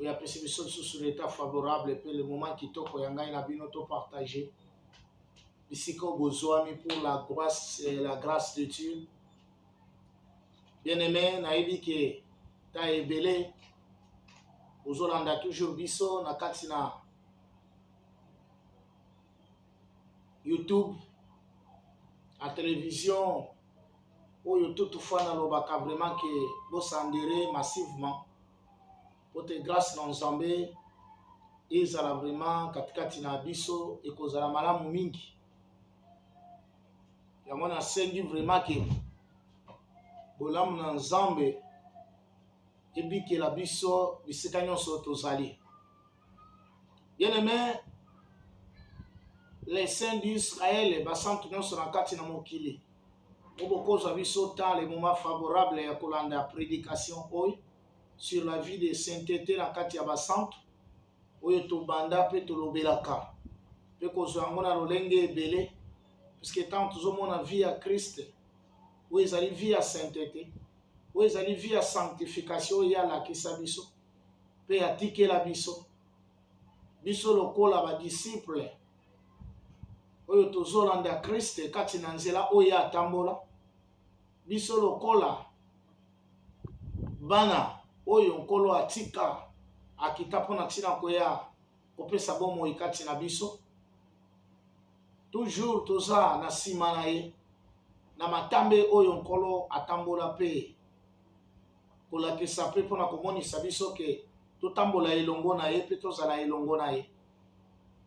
oyo apesi biso lisusu na etat favorable mpe le moment kitoko ya ngai na bino to partage bisika oyo bozwami pour la grâce euh, la grâce de Dieu bien aimé nayebi ke ta ebele ozolanda toujours biso na kati na youtube na télévision oyo toutefois nalobaka vraiment ke bosandere massivement mpo te grâce na nzambe ezala vraiment katikati na biso ekozala malamu mingi yango nasengi vraiment ke bolamu na nzambe ebikela biso bisika nyonso tozali Bien aimé, les saints d'Israël, basantu nyonso na kati na mokili, obokozwa biso temps le moment favorable ya kolanda prédication oyo sur la vie de sainteté na kati ya basantu oyo tobanda mpe tolobelaka mpe kozwa yango na lolenge ebele puisque ntango tozomona vie ya kriste oyo ezali vie ya sainteté oyo ezali vie ya sanctification oyo ye alakisa biso mpe atikela biso biso lokola badisiple oyo tozolanda kriste kati na nzela oyo ye atambola biso lokola bana oyo nkolo atika akita mpo na ntina koya kopesa bomoi kati na biso toujours toza na nsima na ye na matambe oyo nkolo atambola mpe kolakisa mpe mpo na komonisa biso ke totambola elongo na ye mpe tozala elongo na ye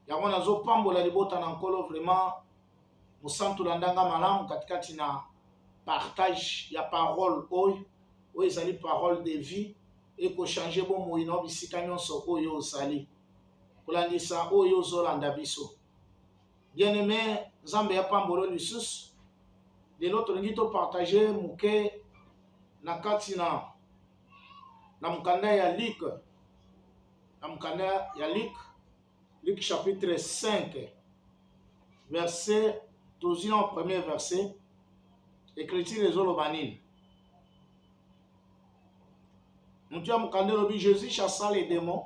yango nazopambola libota na nkolo vraiment mosantu landanga malamu katikati na partage ya parole oyo oyo ezali parole de vie ekochange bomoi na bisika nyonso oyo ozali kolandisa oyo ozolanda biso bien aimé nzambe ya pambolo lisusu lelo tolingi topartage moke na kati na na mokanda ya luke na mokanda ya luke luke chapitre 5 verset tozwi na premier verset écriture ezoloba nini moto ya mokanda elobi jesus chassa les démons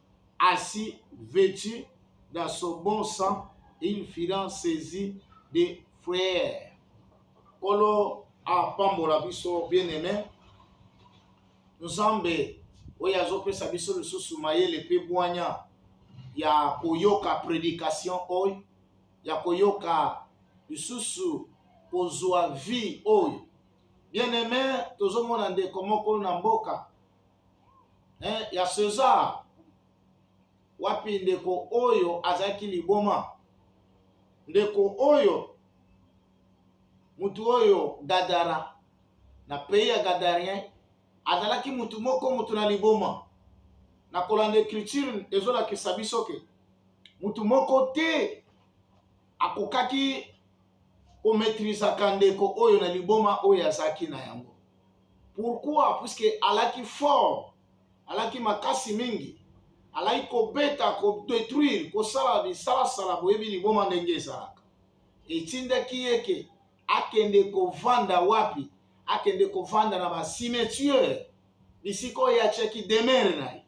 assis vetu dans son bon sang il fila saisi de frere nkolo apambola biso bien aime nzambe oyo azopesa biso lisusu mayele mpe bwanya ya koyoka predication oyo ya koyoka lisusu kozwa vie oyo bien aime tozomona ndeko moko na mboka eh, ya Cesar wapi ndeko oyo azalaki liboma ndeko oyo motu oyo gadara na pays ya gadarien azalaki motu moko motu na liboma na kolanda ecriture ezolakisa biso ke motu moko te akokaki kometrizaka ndeko oyo na liboma oyo azalaki na yango Pourquoi? Puisque alaki fort, alaki makasi mingi, alaki kobeta, kodetruire, kosala bisalasala, boyebi liboma ndenge ezalaka. Etindaki ye ke akende kovanda wapi? Akende kovanda na ba cimetière, bisika oyo atiaki demeure na ye.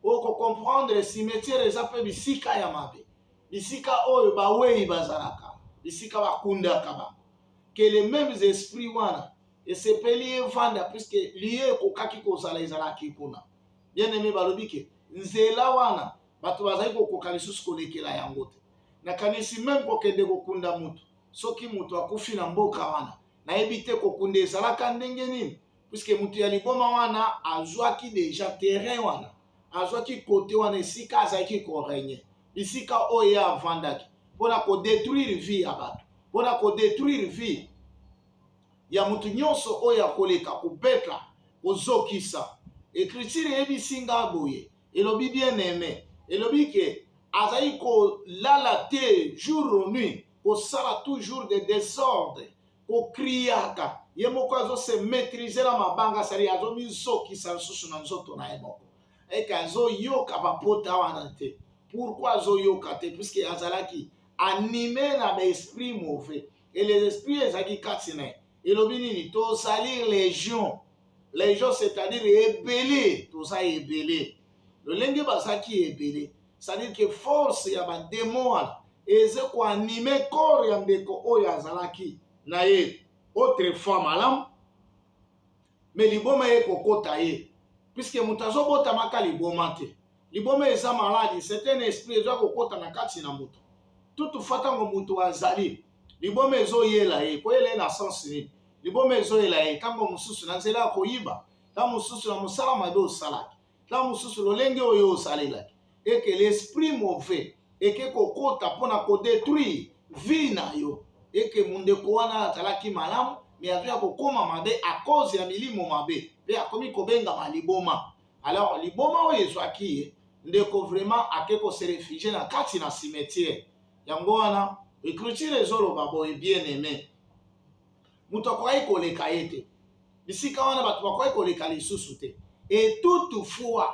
Oko comprendre cimetière eza mpe bisika ya mabe, bisika oyo bawei bazalaka, bisika bakundaka bango. Que les memes esprits wana esepeli ye vanda puiske lieu ekokaki kozala ezalaki kuna bien aime balobi ke nzela wana bato bazali kokoka lisusu kolekela yango te nakanisi meme kokende kokunda motu soki motu akufi na mboka wana nayebi te kokunda ezalaka ndenge nini puiske motu ya liboma wana azwaki deja terrain wana azwaki kote wana esika azalaki koregne bisika oyo ye avandaki mpo na kodetruire vie ya bato mpo na kodetruire vie ya moto nyonso oyo akoleka kobeta, kozokisa. Ecriture eyebisi nga boye, elobi bien aime, elobi ke azali kolala te jour ou nuit, kosala toujours de desordre, kocriaka ye moko azo se maitriser na mabanga, sali azo mizokisa lisusu na nzoto na ye moko eke azoyoka bapota wana te. Pourquoi azoyoka te? Puisque azalaki anime na ba esprit mauvais. et les esprits ezalaki kati na ye elobi nini tozali légion légion c'est-à-dire ebele toza ebele lolenge bazalaki ebele c'est-à-dire que force ya bademo wana eze koanime corps ya ndeko oyo azalaki na ye autrefois malamu me liboma ye kokota ye puiske moto azobotamaka liboma te liboma eza maladi c'est un esprit eza kokota na kati na moto tutufa ntango moto azali liboma ezoyela ye koyela ye na sense nini liboma ezoyela ye ntango mosusu na nzela ya koyiba ntango mosusu na mosala mabe osalaki ntango mosusu lolenge oyo osalelaki eke l'esprit mauvais eke kokota mpo na kodetruire vie na yo eke mondeko wana azalaki malamu me azoya kokóma mabe a cause ya milimo mabe mpe akomi kobengama liboma alors liboma oyo ezwaki ye ndeko vraiment ake kose refugie na kati na cimetière yango wana ecriture ezoloba boye bien aimé moto akokaki koleka ye te bisika wana bato bakokaki koleka lisusu te etutu fois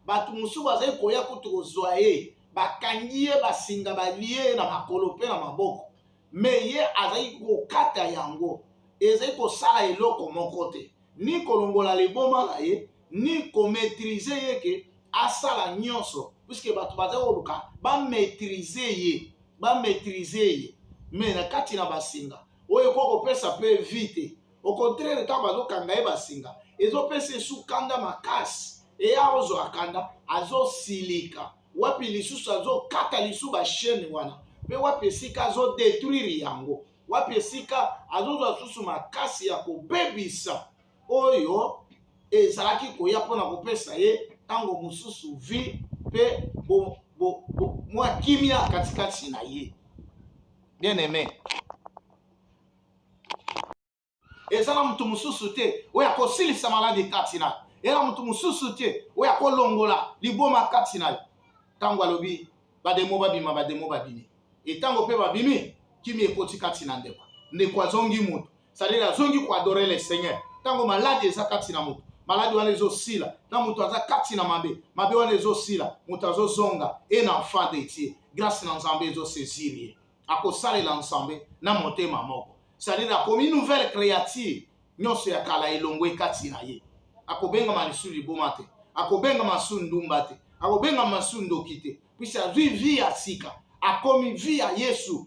bato mosusu bazali koya kutu kozwa ye bakangi ye basinga balie ye na makolo mpe na maboko me ye azali kokata yango ezali kosala eloko moko te ni kolongola liboma na ye ni kometrize ye ke asala nyonso puiske bato bazali koluka bametrize ye bametrize ye me na kati na basinga oyo ekoki kopesa mpe vi te au contraire ntango bazokanga ye basinga ezopesa esu kanda makasi eye akozwa kanda azosilika wapi lisusu azokata lisu bashene wana mpe wapi esika azodetruire yango wapi esika azozwa lisusu makasi ya kobebisa oyo ezalaki koya mpo na kopesa ye ntango mosusu vi mpe mwa kimia katikati na ye bien aime eza na moto mosusu te oyo akosilisa maladi kati na ye na moto mosusu te oyo akolongola liboma kati na ye ntango alobi bademo babima bademo babimi etango mpe babimi kimi ekoti kati na ndeko ndeko azongi moto cetadire azongi koadore le seigneur ntango maladi eza kati na moto maladi wana ezosila na moto aza kati na mabe mabe wana ezosila moto azozonga e na enfant de tie grâce na nzambe ezosaisir ye akosalela nzambe na motema moko cetadire akomi nouvelle créature nyonso ya kala elongwe kati na ye akobengama lisusu liboma te akobengama su ndumba te akobengama su ndoki te puisi azwi vi ya sika akomi vi ya yesu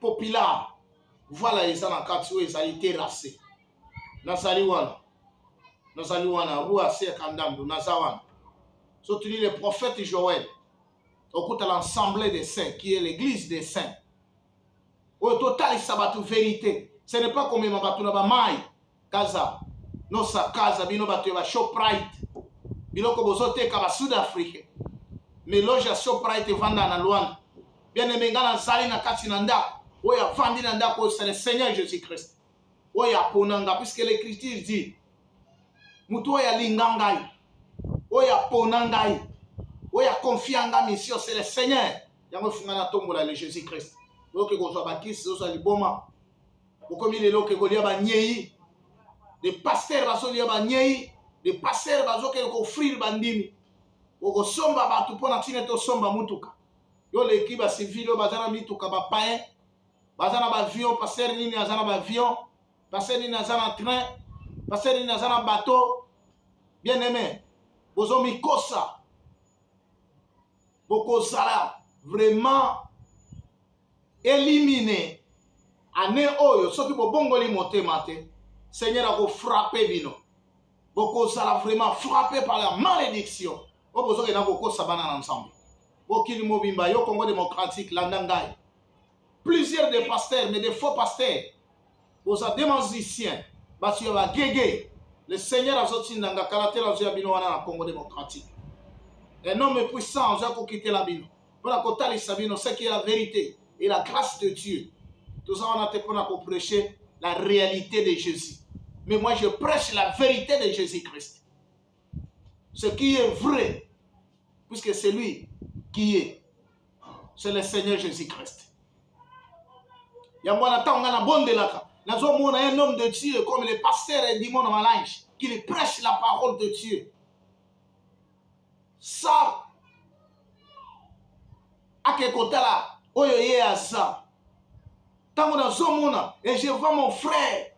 populaire voilà eza na kati oyo ezali terrasse nazali wana nazali wana rue aser kandamdo naza wana sotuni le prophète joël okuta l'ensemble des saints qui est l'église des saints oyo totalisa bato verité ce n'est pas komema bato na bamai kaza nosakaza bino bato ya bashoprite biloko bozoteka basud africain meloge ya shoprite evanda na lwanda bianeme ngai nazali na kati na ndako oyo avandi na ndako oyo c'est le seigneur jésus christ oyo apona ngai puisque l'écriture dit moto oyo alinga ngai oyo apona ngai oyo akonfia ngai mission c'est le seigneur yango efunga na tombola le jésus christ oyoki kozwa bakisi ozwa liboma bokomi lelo ke kolia banyei de pasteur bazolia banyei de pasteur bazokende koofrire bandimi okosomba bato mpo na ntina ete osomba motuka yo oleki bacivile oyo baza na mituka bapayen baza na baavion pasteur nini aza na baavion pasteur nini aza na train pasteur nini aza na bateau bien aime bozomikosa bokozala vraiment elimine ane oyo soki bobongoli motema te seigneur akofrape bino bokozala vraiment frappe par la malédiction oyo bozokenda kokosa bana na nzambe mokili mobimba yo congo démocratique landa ngai plusieurs des pasteurs mais des faux pasteurs boza de magicien bato ya bagege le seigneur azotinda nga kala te nazoya bino wana na congo démocratique un homme puissant azoya kokitela bino mpo na kotalisa bino ce qui est la vérité et la grâce de dieu toza wana te mpo na koprêche la réalité de jésus mais moi je prêche la vérité de jésus christ Ce qui est vrai, puisque c'est lui qui est, c'est le Seigneur Jésus-Christ. yango wana ntango ngai nabondelaka nazomona un homme de dieu comme le pasteur edimon na malange qui le prêche la parole de dieu sa ake kotala oyo ye aza ntango nazomona et je vois mon frère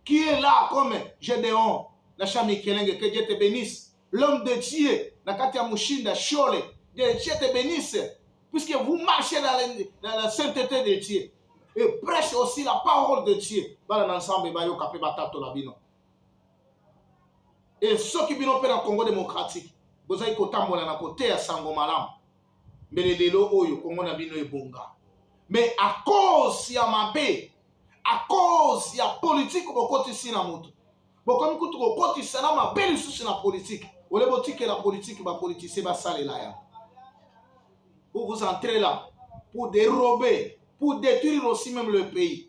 qui est là comme Gédéon na Shami Kelenge, que Dieu te bénisse. L'homme de Dieu, na Katia Mushinda, Shole, que Dieu te bénisse, puisque vous marchez dans la, dans la sainteté de Dieu. Et prêche aussi la parole de Dieu. Bala ensemble, bayo kapé batato la bino. Et ceux qui bino père Congo démocratique, vous avez kotambola na kote ya sango malamu. mbele lelo oyo kongo na bino ebonga mais à cause ya mabe à cause ya politique bokotisi na moto bokomi kutu kokotisa na mabe lisusu na politique ole botikela politique bapolitisie basalela ya pour vous entrer là pour dérober pour détruire aussi même le pays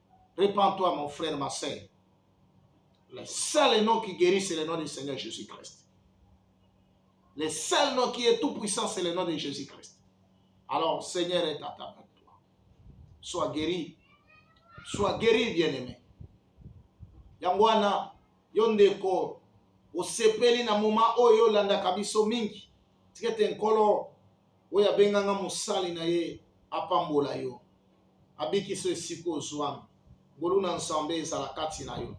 Repends toi mon frère ma sœur. Le seul nom qui guérit c'est le nom du Seigneur Jésus-Christ. Le seul nom qui est tout puissant c'est le nom de Jésus-Christ. Alors Seigneur est à ta sois guéri sois guéri bien aimé yango wana yo ndeko osepeli na moma oyo olandaka biso mingi tikete nkolo oyo abenga nga mosali na ye apambola yo abikisa esika ozwami ngolu na nzambe ezala kati na yo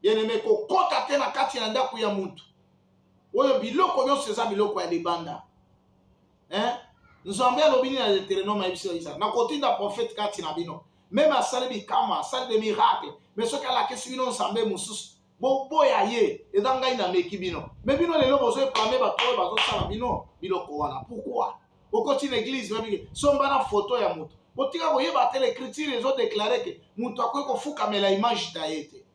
bieneme kokota te na kati ya ndako ya motu oyo biloko nyonso eza biloko ya libanda eh? nzambe alobi nini na deuteronome ayebisi yo isaka nakotinda profete kati na bino meme asali bikama asali de miracle me soki alakisi bino nzambe mosusu boboya ye eza ngai nameki bino me bino lelo bozo epame bato oyo bazosala bino biloko wana pourkoi okoti na eglize babiki somba na foto ya moto botika koyeba te l'écriture ezodeklare ke moto akoki kofukamela image na ye te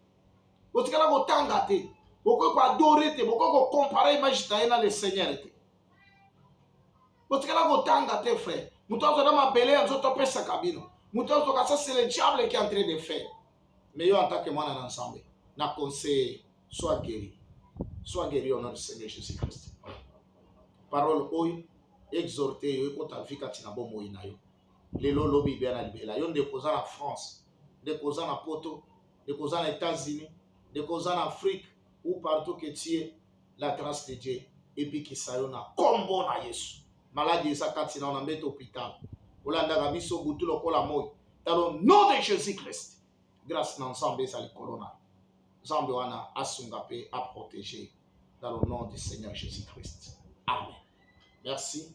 botikala kotanga te bokoki koadore te bokoki kokompare image na ye na le seigneur te botikala kotanga te frère moto azwa na mabele ya nzoto apesaka bino moto azokasa se le diable qui entre de faire mais yo en tant que mwana na nzambe na conseiller soit guéri soit guéri au nom du seigneur jésus christ parole oyo exhorte yo ekota vi kati na bomoi na yo lelo lobi bya na libela yo ndeko oza na france ndeko oza na poto ndeko oza na états-unis ndeko oza na afrique ou partout que tu es la grâce de Dieu ebikisa yo na kombo na Yesu maladi eza kati na yo na mbeto hôpital olandaka biso butu lokola moi dans le nom de Jésus Christ grâce na Nzambe eza likolo na Nzambe wana asunga mpe aprotéger dans le nom du Seigneur Jésus Christ amen merci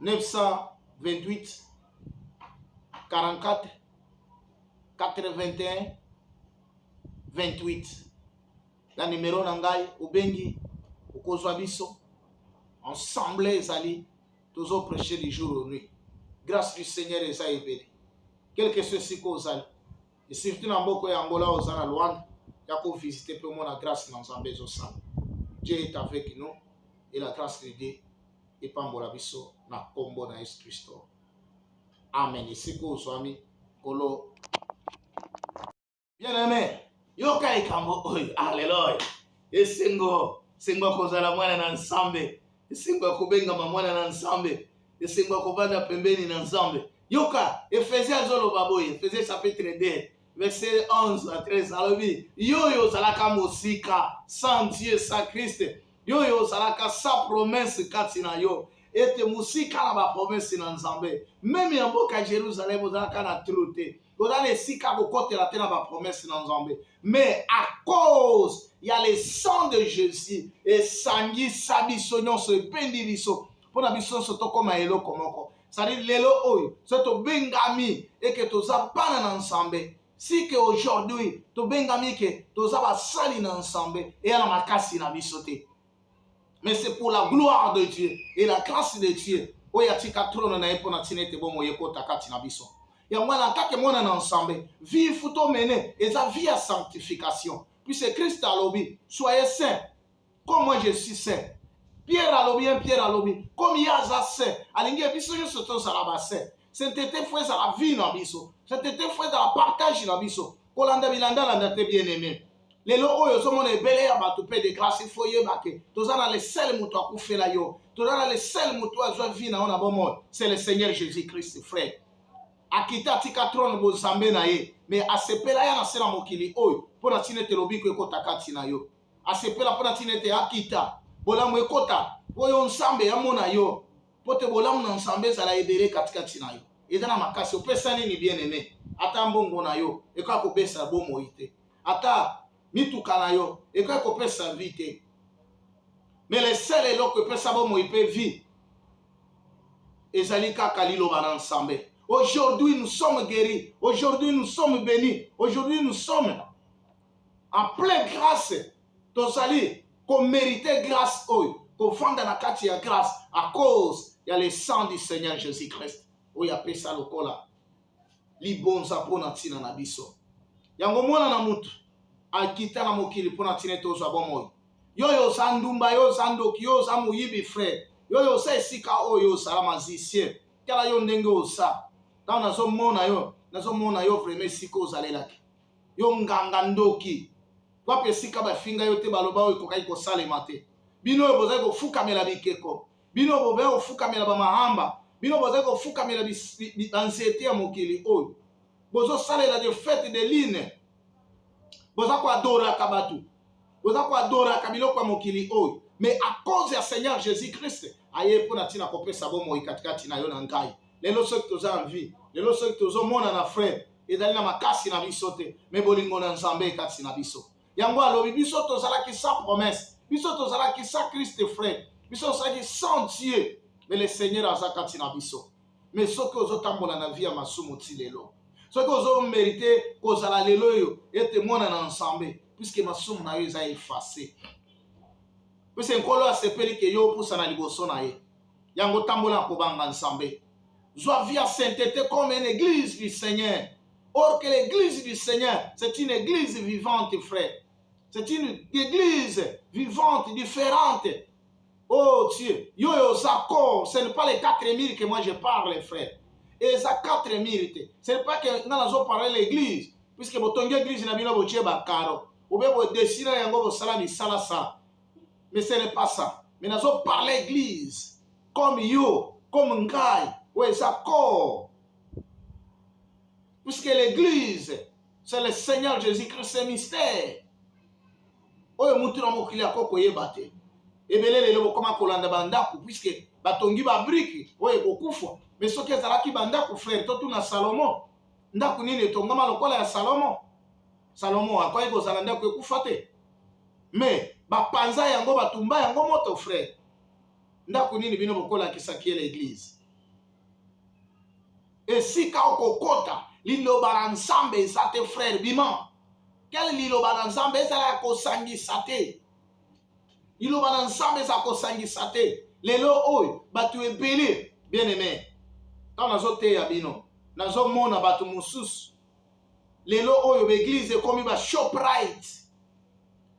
928 44 81 28 na nimero na ngai obengi okozwa biso ensemble ezali tozo prêcher du jour au nuit grâce du seigneur eza ebele quelque soit esika ozali et surtout na mboka ya angola oza na luanda ya kovisite mpe omona grâce na nzambe ezosala dieu est avec nous et la grâce de dieu epambola biso na nkombo na yesu kristo amen esika ozwami nkolo bien aime yoka likambo oyo aleloya esengo sengo kozala mwana na nzambe esengo ya kobengama mwana na nzambe esengo ya kobanda pembeni na nzambe yoka efesie azoloba boye efesie chapitre 2 verset 11 à 13 alobi yo oyo ozalaka mosika sans dieu sans christ yo oyo ozalaka sans promesse kati na yo ete mosika na bapromese na nzambe meme ya mboka jerusalem ozalaka na tru te oza na esika kokotela te na bapromese na nzambe mais à cause ya le sang de jésus esangisa biso nyonso ebendi biso mpo na biso nyonso tokóma eloko moko sadi lelo oyo so tobengami eke toza bana na nzambe si ke aujourd'hui tobengami ke toza basali na nzambe eya na makasi na biso te mais c'est pour la gloire de Dieu et la grâce de Dieu oyo atika trone na ye mpo na ntina ete bomoi ekota kati na biso yango wana atake mwana na nsambe vie fu tomene eza vie ya sanctification puisque christ alobi soye saint comme moi je suis saint pierre alobi ye pierre alobi comme ye aza saint alingi ye biso nyonso tozala basaint saintete fo ezala vie na biso saintete fo ezala partage na biso kolanda bilandalanda te bien aime lelo oyo ozomona ebele ya bato mpe de classe il faut yeba ke toza na le seul moto akufela yo toza na le seul moto oyo azwa vie na yo na bomoi c'est le seigneur jésus christ frère akita atika trone bozambe na ye me asepela ya na se na mokili oyo mpo na ntina ete lobiko ekota kati na yo asepela mpo na ntina ete akita bolamu ekota mpo yo nzambe amona yo mpo te bolamu na nzambe ezala ebele katikati na yo eza na makasi opesa nini bien aime ata mbongo na yo ekoya kobesa bomoi te ata mituka na yo ekoki kopesa vie te mais le seul eloko epesa bomoi mpe vie ezali kaka liloba na nsambe aujourd'hui nous sommes guéris aujourd'hui nous sommes bénis aujourd'hui nous sommes en plein grâce tozali komerite grâce oyo kofanda na kati ya grâce à cause ya le sang du seigneur jésus christ oyo apesa lokola libonza mpo na ntina na biso yango mwana na motu akita na mokili mpo na ntina ete ozwa bomoi yo oyo oza ndumba yo oza ndoki yo oza moyibi frere yo oyo oza esika oyo ozala magicien tala yo ndenge oza ntango nazomona yo nazomona yo vraimen esika ozalelaki yo nganga ndoki wapi esika bafinga yo te baloba oyo ekokaki kosalema te bino oyo bozali kofukamela bikeko bino bobe kofukamela bamahamba bino bozali kofukamela banzete ya mokili oyo bozosalela de fete de line boza koadoraka bato boza koadoraka biloko ya mokili oyo mais à cause ya seigneur jésus christ aye mpo na ntina kopesa bomoi katikati na yo na ngai lelo soki toza na vie lelo soki tozomona na frere ezali na makasi na biso te me bolingo na nzambe ekati na biso yango alobi biso tozalaki sans promesse biso tozalaki sans christ frère biso tozalaki sans dieu mais le seigneur aza kati na biso mais soki ozotambola na vie ya masumu ti lelo soki ozomerite kozala lelo oyo ete mwana na nzambe puiske masumu na yo eza efase puiske nkolo asepeli ke yo opusana liboso na ye yango tambola kobanga nzambe zwa vie ya saintete comme une église du seigneur or que l'église du seigneur c'est une église vivante frère c'est une église vivante différente oh dieu yo yo oza corps ce n'est pas les 4000 que moi je parle frère eza 4000 te ce n'est pas que nga nazo parle l'église puisque botongi église na bino botie bakaro obe bodesina yango bosala misalasala mais ce n'est pas ça mais nazo parle église comme yo comme ngai oyo eza corps puisque l'église c'est le seigneur jésus christ c'est mystère oyo mutu na mokili ako koyeba te ebele lelo bokoma kolanda bandako puisque batongi babrike oyo ekokufa mais soki ezalaki bandako frere totuna salomo ndako nini etongama lokola ya salomo salomo akwaki kozala ndako ekufa te me bapanza yango batumba yango moto frère ndako nini bino bokolakisa kiela eglise esika okokota liloba na nzambe eza te frère bima kele liloba na nzambe ezala ya kosangisa te liloba na nzambe eza kosangisa te lelo oyo bato ebele bien aime ntango nazoteya bino nazomona bato mosusu lelo oyo baeglise ekomi ba shoprite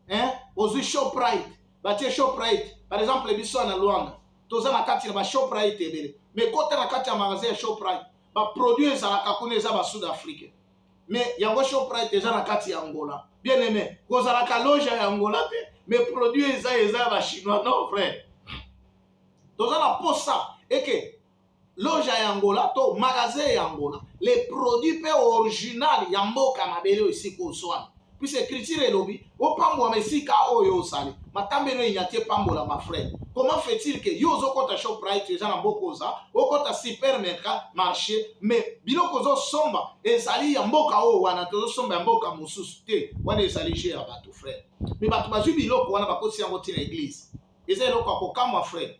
hein? ozwi shoprite batie shoprite par exemple biso ya na luanda toza na kati na bashoprite ebele mais kota na kati ya magasin ya shoprite baproduit ezalaka kuna eza basud africain mais yango shoprite eza na kati ya angola bien aime kozalaka loge ya angola te mais produit eza eza ya bachinois non vrai toza na posa eke loja ya angola to magasin ya angola le produit mpe original ya mboka mabele oyo esika ozwami puisque écriture elobi opambwama esika oyo ozali matambelo enyati epambolama frère comment fait-il que yo ozokɔta shoprite eza na mboka oza okɔta supermercat marché mais biloko ozosomba ezali ya mboka oyo wana tozosomba ya mboka mosusu te wana ezali jeu ya bato frère mais bato bazwi biloko wana bakotisi yango ntina eglise eza eloko ya kokamwa frère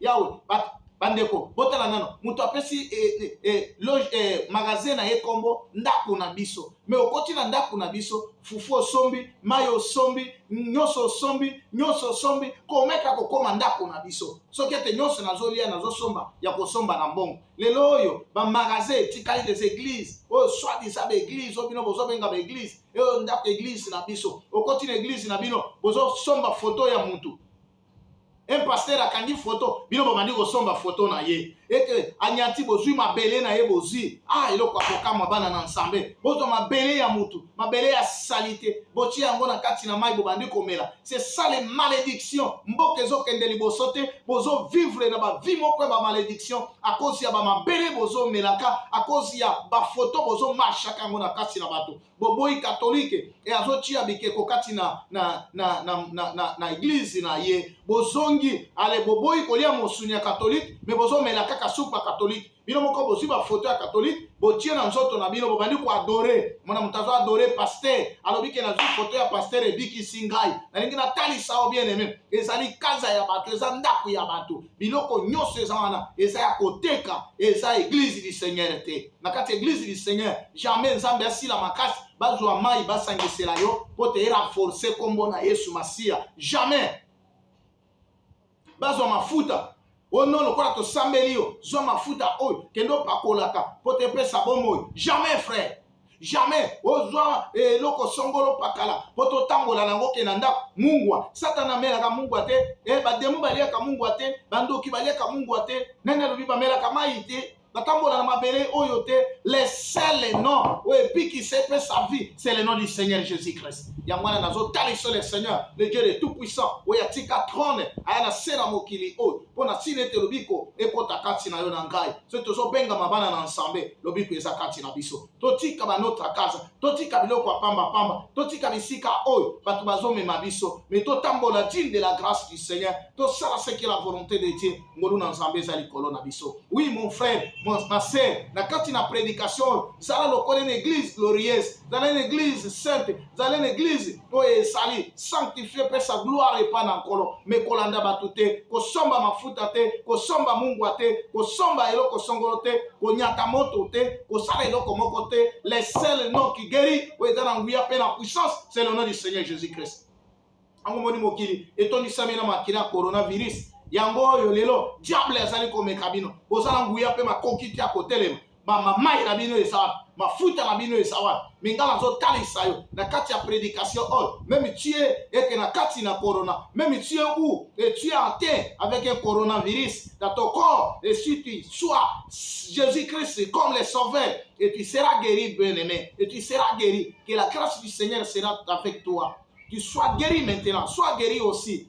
yawe bandeko botala nano moto apesi eh, eh, eh, loge eh, magasin na ye nkombo ndako na biso me okoti na ndako na biso fufu osombi mai osombi nyonso osombi nyonso osombi komeka kokoma ndako na biso soki ete nyonso nazolia nazosomba ya kosomba na mbongo lelo oyo bamagasin etikali des églises oyo swadisa baeglise oyo bino bozobenga baeglise eyo ndako eglise na biso okoti na eglise na bino bozosomba foto ya motu un pasteur akangi photo bino bobandi kosomba photo na ye ete anyati bozwi mabele na ye bozwi ah eloko ya kokamwa bana na nsambe bozwa mabele ya mutu mabele ya salite botie yango na kati na mai bobandi komela se sale malediction mboka ezokende liboso te bozovivre na bavi moko ya bamaleduction akozi ya bamabele bozomelaka akozi ya bafoto bozomarshaka yango na kati na bato boboyi katolike e azotia bikeko kati na na na na, na, na, na eglize na ye bozongi ale boboyi kolia mosuni ya katolike me bozomela kaka supu ya katolike bino moko bozwi bafoto ya katolike botie na nzoto na bino bobandi koadore mona moto azo adore paster alobi ke nazwi foto ya paster ebikisi ngai nalingi natalisa o bien aime ezali kaza ya bato eza ndako ya bato biloko nyonso eza wana eza ya koteka eza eglise du seigneur te na kati ya eglise du seigneur jamais nzambe asila makasi bazwa mai basangisela yo mpo te erenforce nkombo na yesu masiya jamais bazwa mafuta o non lokola tosambeli yo zwa mafuta oyo kende opakolaka mpo te epesa bomoi jamais frère jamais ozwa eh, eloko songolo pakala mpo totambola nango ke na ndako mungwa satana amelaka mungwa te eh, bademo baliaka mungwa te bandoki baliaka mungwa te nani alobi bamelaka mai te batambola na mabele oyo te le seul nom oyo ebikisa epesa vie c'est le nom du seigneur jésus christ yango wana nazotaliso le seigneur le dieu de tout puissant oyo atika trone aya na se na mokili oyo mpo na ntina ete lobiko ekota kati na yo na ngai soki tozobengama bana na nsambe lobiko eza kati na biso totika banotra kaza totika biloko ya pambapamba totika bisika oyo bato bazomema biso me totambola digne de la grâce du seigneur tosala seke la volonté de dieu ngolu na nzambe eza likolo na biso oui mon frère mon, ma sœur na kati na prédication oyo zala lokola na église glorieuse zala na église sainte zala na église oyo ezali sanctifie mpe sa gloire epai na nkolo me kolanda bato te kosomba mafuta te kosomba mungwa te kosomba eloko songolo te konyata moto te kosala eloko moko te le sel non qui guérit oyo eza na nguya mpe na puissance c'est le nom du seigneur jésus christ yango moni mokili etondisami na makila ya coronavirus yango oyo lelo diable azali komeka bino boza na nguya mpe makoki te ya kotelema bamamai na bino eza wapi mafuta na bino eza wapi me ngai nazotalisa yo na kati ya prédication oyo meme tue eke na kati na corona meme tue ou et tue atteint avec un coronavirus dans ton corps et si tu sois jésus christ comme le sauveur et tu seras guéri bien aimé et tu seras guéri que la grâce du seigneur sera avec toi tu sois guéri maintenant sois guéri aussi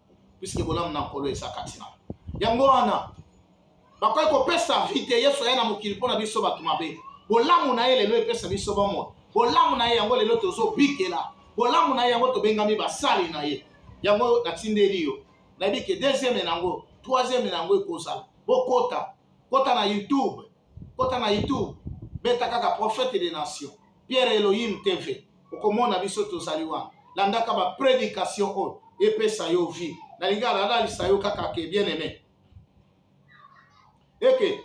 puiske bolamu na nkolo eza kati na yango wana bakoki kopesa vi te yesu aya na mokili mpo na biso bato mabe bolamu na ye lelo epesa biso bomoi bolamu na ye yango lelo tozobikela bolamu na ye yango tobengami basali na ye yango natindeli yo nayebi ke deuxième na yango troisième na yango ekozala bokota kota na youtube kota na youtube beta kaka prophète des nations Pierre Elohim TV okomona biso tozali wana landaka ba predication oyo epesa yo vie nalingi alalalisa yo kaka ke bien aimé eke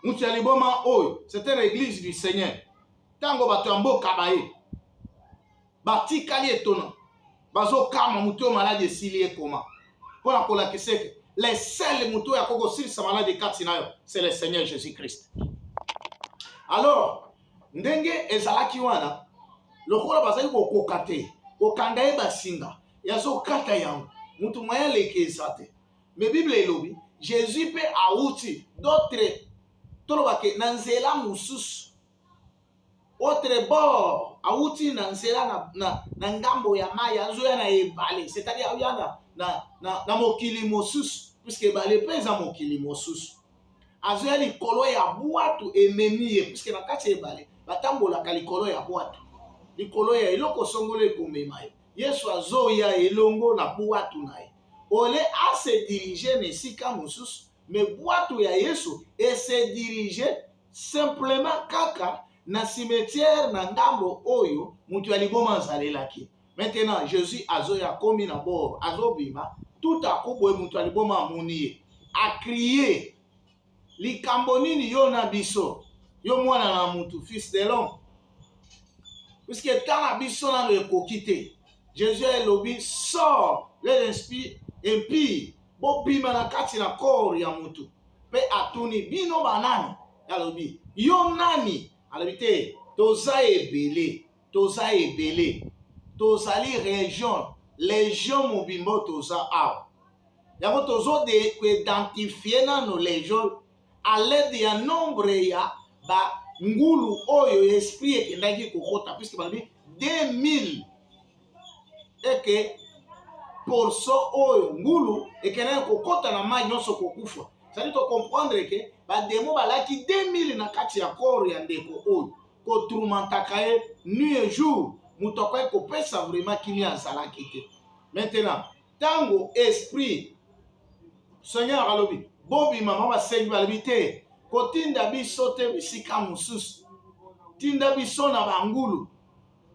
moto ya liboma oyo c'était l'église du seigneur ntango bato ya mboka baye batikali etona bazokama moto oyo maladi esili ye koma mpo na kolakisa ete le sel moto oyo akoki kosilisa maladi kati na yo c'est le seigneur jésus christ alors ndenge ezalaki wana lokola bazali kokoka te kokanga ye basinga yazokata yango moto moye aleki eza te me bible elobi jésus mpe awuti d'autre tolobake na nzela mosusu autre bord awuti na nzela na, na, na ngambo ya mai azoya na ebale c'est-à-dire aoya na, na, na, na mokili mosusu puiske ebale mpe eza mokili mosusu azoya likolo ya bwatu ememi ye puiske na kati ya ebale batambolaka likolo ya bwatu likolo ya eloko songolo ekomema ye yesu azoya elongo na bwatu na ye ole ase dirige na esika mosusu me bwatu ya yesu ese dirige simplement kaka na cimetière na ndambo oyo moto ya liboma azalelaki maintenant jésus azoya akomi na bord azobima tout à coup boye moto ya liboma amoni ye akrie likambo nini yo na biso yo mwana na motu fils de l'homme puiske ntango na biso nano ekoki te jésus elobi sort le esprit impie bobima na kati na kor ya motu mpe atuni bino banani alobi yo nani alobi te toza ebele toza ebele tozali region legion mobimba toza awa yango tozode koidentifie nano legion à l'aide ya nombre ya ba ngulu oyo ya esprit ekendaki kokota puisque balobi 2000 eke porso oyo ngulu ekendaki kokota na mai nyonso kokufa zali tocomprendre ke bademo balaki 2000 na kati ya koro ya ndeko oyo kotrumantaka ye nuit jour moto akoki kopesa vraiment kimia azalaki te maintenant ntango esprit seigneur alobi bobima mama basengi balobi te kotinda biso te bisika mosusu tinda biso na bangulu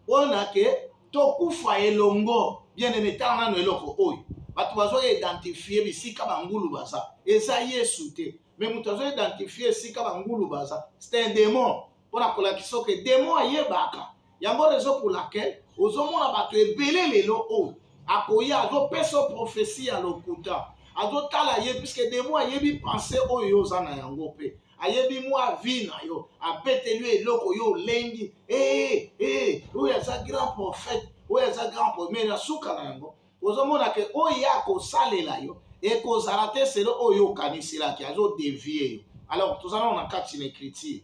mpona ke tokufa elongo bien aime tala nano eloko oyo bato bazo identifie bisika bangulu baza eza yesu te me moto azo identifie esika bangulu baza c'est un demon mpona kolakisa oke demon ayebaka yango raison pour laquelle ozomona bato ebele lelo oyo oh, akoya azopesa profesi ya lokuta azotala ye puiske demo ayebi pense oyo yo oza na yango mpe ayebi mwa vi na yo abeteli eloko yo olengi ee ee oyo aza grand prophète oyo aza grand prophète mais na suka na yango ozomona ke oyo ye akosalela yo ekozala te selo oyo okanisela ke azodevie yo alors toza nano na kati na écriture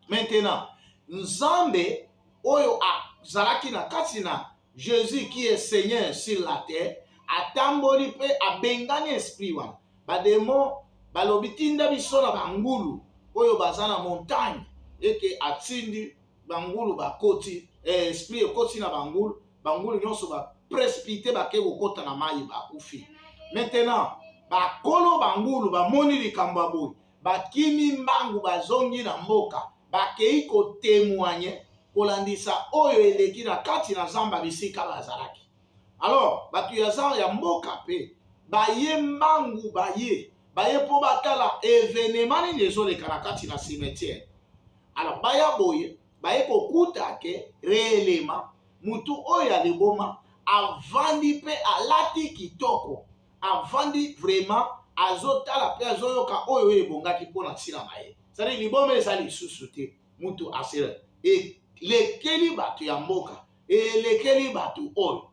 Maintenant, Nzambe oyo azalaki na kati na Jésus qui est Seigneur sur la terre atamboli mpe abengani esprit wana bademo balobi tinda biso na bangulu oyo baza na montagne eke atindi bangulu bakoti eh, esprit ekoti na bangulu bangulu nyonso baprespite bake kokota na mai bakufi maintenant bakolo bangulu bamoni likambo ya boye bakimi mbangu bazongi na mboka bakei kotemoigne kolandisa oyo eleki na kati na zamba bisika bazalaki alors bato ya zan ya mboka mpe baye mbangu baye baye mpo batala evenema nini ezoleka na kati na cimetiere alors baya boye baye kokuta ke reelema motu oyo ya liboma avandi mpe alati kitoko avandi vraiment azotala mpe azoyoka oyo oyo ebongaki mpo na ntina na ye sadi liboma eza lisusu te mutu asela elekeli bato ya mboka elekeli bato oyo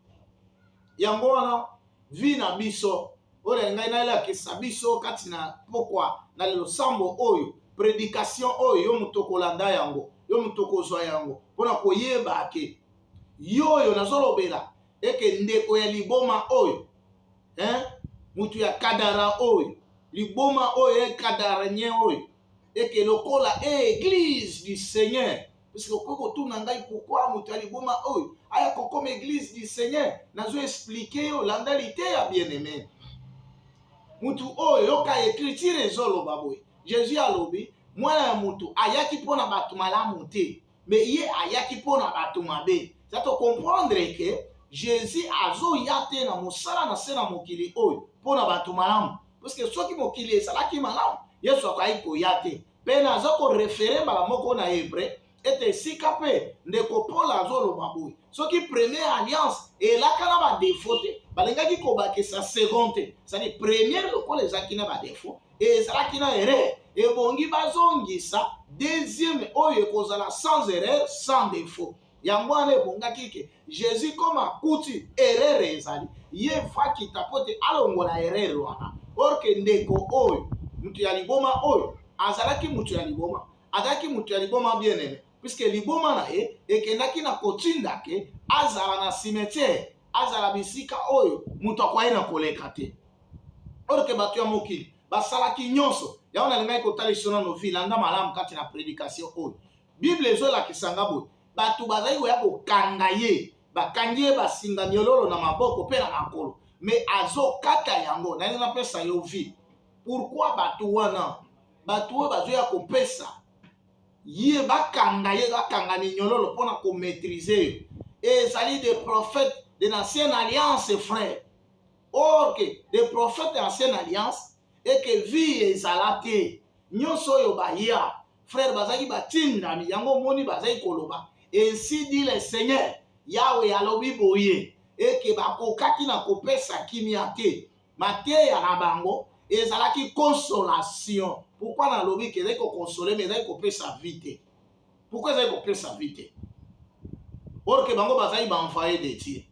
yango wana vi na biso oyo na ngai nalakisa biso kati na mpokwa na losambo oyo predikation oyo yo moto okolanda yango yo moto okozwa yango mpo na koyeba ke yo oyo nazolobela eke ndeko ya liboma oyo eh? mutu ya kadara oyo liboma oyo ye kadara nye oyo eke lokola eglise du seigneur puisque okoki kotuna ngai pourkui moto ya liboma oyo aya kokoma eglise du seigneur nazo explike yo landa liteya bien aime motu oyo yoka ecriture ezoloba boye jésus alobi mwana ya motu ayaki mpo na bato malamu te mais ye ayaki mpo na bato mabe za tocomprendre ke jésus azoya te na mosala na se na mokili oyo mpo na bato malamu parceke soki mokili ezalaki malamu yesu akokaki koya te mpe naza korefere mbala moko na hebreu ete esika mpe ndeko paul azoloba boye soki première alliance elaka na badefo te balingaki kobakisa second te sani première lokola ezalaki na badefo ezalaki na erreur ebongi bazongisa deuxième oyo ekozala sans erreur sans défaut yango wana ebongaki ke jésus comme akuti erreur ezali ye fakita mpo te alongola erreur wana orke ndeko oyo moto ya liboma oyo azalaki moto ya liboma azalaki moto ya liboma bien aime puiske liboma na ye ekendaki na kotinda ke azala na cimetière azala bisika oyo moto akwai na koleka te orke bato ya mokili basalaki nyonso yango nalingaki kotalisa na novi landa malamu kati na predikatio oyo bible ezolakisa nga boye bato bazali koya kokanga ye bakangi ye basinga miololo na maboko mpe na makolo me azokata yango nalingi napesa yo vi pourkui bato wana bato oyo bazoya kopesa ye bakanga ye bakanga minyololo mpo na komaîtrise yo ezali de prophète de l'ancienne alliance frère or que de prophète de l'ancienne alliance et que vie ezala te nyonso oyo baya frère bazalaki batindami yango omoni bazali koloba ainsi dit le seigneur yawe alobi boye eke bakokaki na kopesa kimia te mateya na bango ezalaki consolation pourkui nalobi ke ezali kokonsole ma ezali kopesa vi te pourkui ezali kopesa vi te or ke bango bazali baenvoye de dieu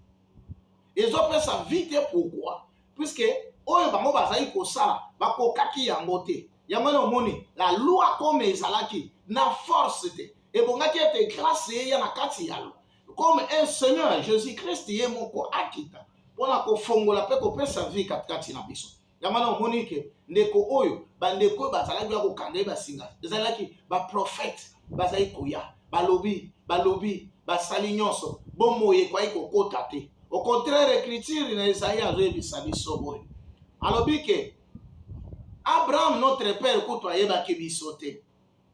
ezopesa vi te pourkui puiske oyo bango bazali kosala bakokaki yango te yango wana omoni la loi comme ezalaki na force te ebongaki ete grace eya na kati ya loi comme un seigneur jésus christ ye moko akita mpona kofongola mpe kopesa vie katikati na biso yango wana omoni ke ndeko oyo bandeko oyo bazalaki ya kokanga ye basinga ezalaki baprofete bazali koya balobi balobi basali nyonso bomoi ekwai kokota te au contraire écriture na ezali azoyebisa biso boye alobi ke abraham notre père kutu ayebaki biso te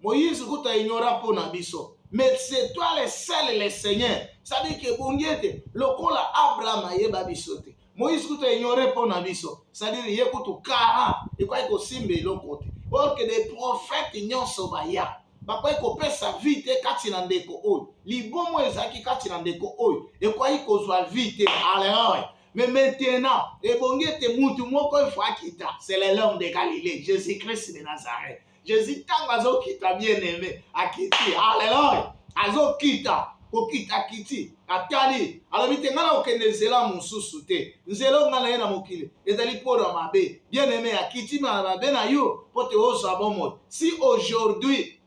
Moïse kutu aignora mpo na biso mais c'est toi le seul le seigneur sadike ebongi ete lokola abraham ayeba biso te moïse kutu aignore mpo na biso sadire ye kutu kara ekwaki kosimba eloko te orke de prophète nyonso baya bakwai kopesa vie te kati na ndeko oyo libomo ezalaki kati na ndeko oyo ekwai kozwa vie te aleoy mais maintenant ebongi ete mutu moko efo akita c'est le l'homme de galilée jésus christ de nazareth jesus ntango azokita bien aime akiti aleloya azokita kokita kiti atali alobi te ngai nakokende nzela mosusu te nzela ongai na ye na mokili ezali mpo na mabe bien aime akiti na mabe na yo mpo te ozwa bomoi si aujourd'hui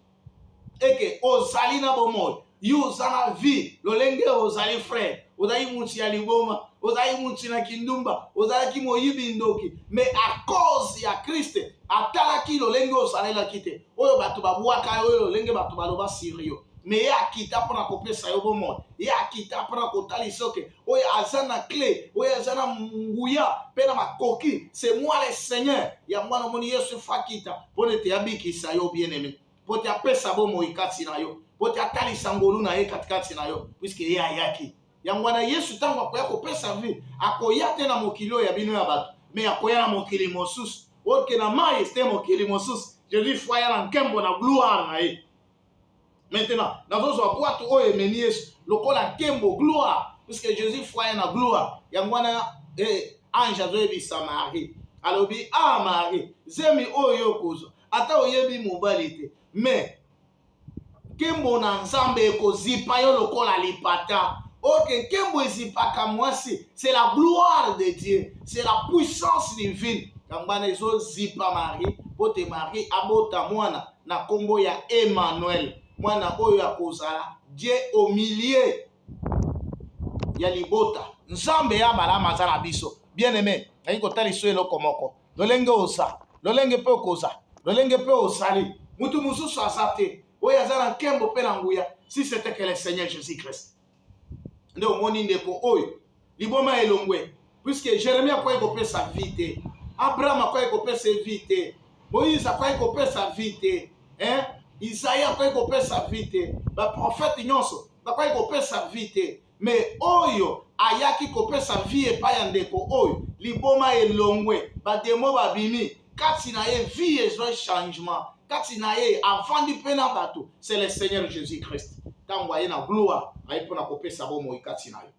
eke ozali na bomoi yo oza na vie lolenge ozali frere ozali mutu ya liboma ozali mutu na kindumba ozalaki moyibi ndoki mais a cause ya kriste atalaki lolenge ozalelaki te oyo bato babwaka yo oyo lolenge bato baloba sur yo me ye akita mpo na kopesa yo bomoi ye akita mpo na kotalisa oke oyo aza na cle oyo aza na nguya mpe na makoki se moi le seigneur yango wana omoni yesu fakita mpo na ete abikisa yo bien aime mpo te apesa bomoi kati na yo mpo te atalisa ngolu na ye katikati na yo puiske ye ayaki yango wana yesu ntango akoya kopesa vie akoya te na mokili oyo ya bino ya bato me akoya na mokili mosusu oke na mai este mokili mosusu jesus fo ya na nkembo na gloire na ye maintenant nazozwa bwatu oyo ememi yesu lokola nkembo gloire puiske jesus fo ya na gloire yango wana eh, ange azoyebisa marie alobi a ah, marie zemi oyo okozwa ata oyebi mobali te me nkembo na nzambe ekozipa yo lokola lipata oke nkembo ezipaka mwasi c'est la gloire de dieu c'est la puissance divine yango wana ezozipa marie mpo te marie abota mwana na nkombo ya emmanuel mwana oyo akozala dieu au milieu ya libota nzambe ya abalama aza na biso bien aime nayi kotalisa eloko moko lolenge oza lolenge mpe okoza lolenge mpe ozali motu mosusu aza te oyo aza na nkembo mpe na nguya si c'était que le seigneur jésus christ nde omoni ndeko oyo liboma elongwe puiske jeremi akwai kopesa vi te abraham akwai kopesa vi te moïse akwai kopesa vi te isaya akwai kopesa vi te baprofete nyonso bakwai kopesa vi te me oyo ayaki kopesa vie epai ya ndeko oyo liboma elongwe bademo babimi kati na ye vie ezwai changement kati na ye avandi mpe na bato c'est le seigneur jésus christ ntango aye na gloire aye mpo na kopesa bomoi kati na yo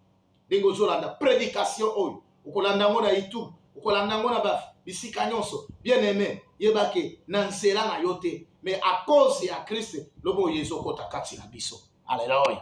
ndenge ozolanda prédication oyo okolanda yango na youtube okolanda yango na bisika nyonso bien aime yebake na nzela na yo te mais à cause ya kriste lobo oyo ezokota kati na biso aleluya